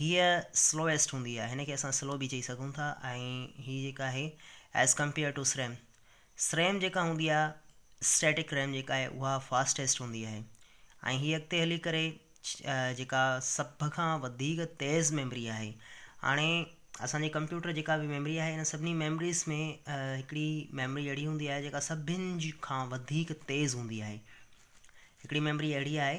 هيء سلوئيسٽ هوندي آهي هن کي اسان سلو به چئي سگهون ٿا ۽ هي جيڪا آهي ايز ڪمپيئر ٽو سريم سريم جيڪا هوندي آهي اسٽيٽڪ ريم جيڪا آهي اها فاسٽيسٽ هوندي آهي ۽ هي اڳتي هلي ڪري جيڪا سڀ کان وڌيڪ تيز ميمري آهي هاڻي اسان جي ڪمپيوٽر جيڪا به ميمري آهي هن سڀني ميمريز ۾ هڪڙي ميمري اهڙي هوندي آهي جيڪا سڀني کان وڌيڪ تيز هوندي آهي هڪڙي ميمري اهڙي آهي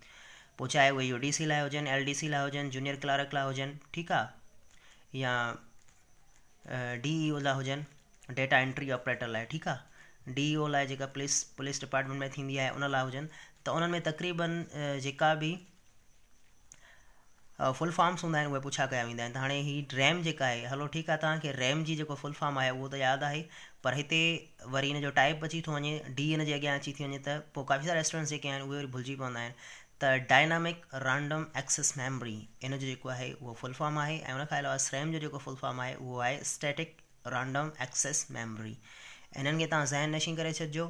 پوء چاهي اهي يو ڊي سي لاء هجن، ايل ڊي سي لاء هجن، جونيئر ڪلارڪ لاء هجن، ٺيڪ آ، يا ڊي اي او لاء هجن، ڊيٽا انٽري آپريٽر لاء، ٺيڪ آ، ڊي اي او لاء جيڪا پوليس پوليس ڊپارٽمينٽ ۾ ٿيندي آهي ان لاء هجن ته انهن ۾ تقريبن جيڪا به فل فارمس هوندا آهن اهي پڇا ڪيا ويندا آهن ته هاڻي هي ريم جيڪا آهي هلو ٺيڪ آهي توهان کي ريم جي جيڪو فل فارم آهي اهو ته ياد آهي پر هتي وري ان جو ٽائپ اچي ٿو وڃي ڊي ان جي اڳيان اچي ٿي وڃي ته پوء ڪافي سارا اسٽوڊنٽس جيڪي آهن اهي وري ڀلجي پوندا آهن ته ڊائنامڪ رانڊم ايڪسس ميموري ان جو جيڪو آهي اهو فل فارم آهي ۽ ان کان علاوه سريم جو جيڪو فل فارم آهي اهو آهي اسٽيٽڪ رانڊم ايڪسس ميموري انهن کي تان ذهن نشين ڪري ڇڏجو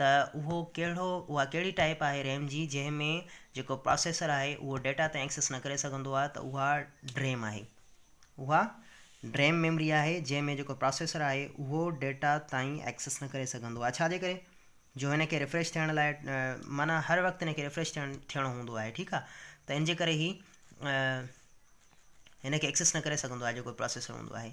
ته اهو ڪهڙو اها ڪهڙي ٽائيپ آهي ريم جي جنهن ۾ جيڪو پراسيسر آهي اهو ڊيٽا تائين ايڪسيس نه ڪري سگهندو آهي ته اها ڊريم آهي اها ڊريم ميمري آهي جنهن ۾ جيڪو پراسيسر آهي اهو ڊيٽا تائين ايڪسيس نه ڪري سگهندو آهي ڇا جي ڪري جو هن کي ريفريش ٿيڻ لاء معنيٰ هر وقت هن کي ريفريش ٿيڻ ٿيڻو هوندو آهي ٺيڪ آهي ته ان جي ڪري هي هن کي ايڪسيس نه ڪري سگهندو آهي جيڪو پراسيسر هوندو آهي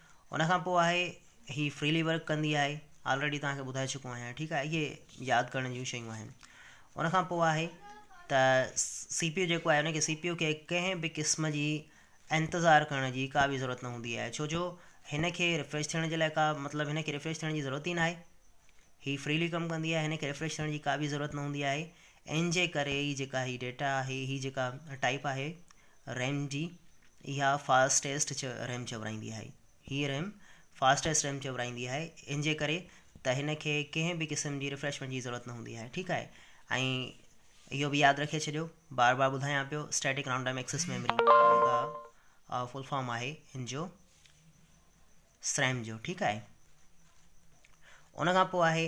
ان کان پوء آهي هي فريلي ورڪ ڪندي آهي آلريڊي توهان کي ٻڌائي چڪو آهيان ٺيڪ آهي اهي ياد ڪرڻ جون شيون آهن ان کان پوء آهي ته سي پي يو جيڪو آهي ڪي سي پي يو کي ڪنهن به ڪسم جي انتظار ڪرڻ جي ڪا به ضرورت نه هوندي آهي ڇو جو هن کي ريفريش ٿيڻ جي لاء ڪا مطلب هن کي ريفريش ٿيڻ جي ضرورت ئي ناهي هي فريلي ڪم ڪندي آهي هن کي ريفريش ٿيڻ جي ڪا به ضرورت نه هوندي آهي ان جي ڪري ئي جيڪا هي ڊيٽا آهي، هي جيڪا ٽائيپ آهي ريم جي، اها فاسٽيسٽ ريم چورائيندي آهي. هيء ريم فاسٽيسٽ ريم چورائيندي آهي، ان جي ڪري ته هن کي ڪنهن به قسم جي ريفريشمينٽ جي ضرورت نه هوندي آهي، ٺيڪ آهي. ۽ اهو به ياد رکي ڇڏيو، بار بار ٻڌايان پيو، static round time access memory جيڪا فل فارم آهي ان جو سريم جو، ٺيڪ آهي. ان کان پوء آهي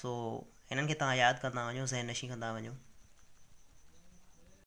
سو هنن کي تهان ياد ڪندا وڃو ذهن نشين ڪندا وڃو.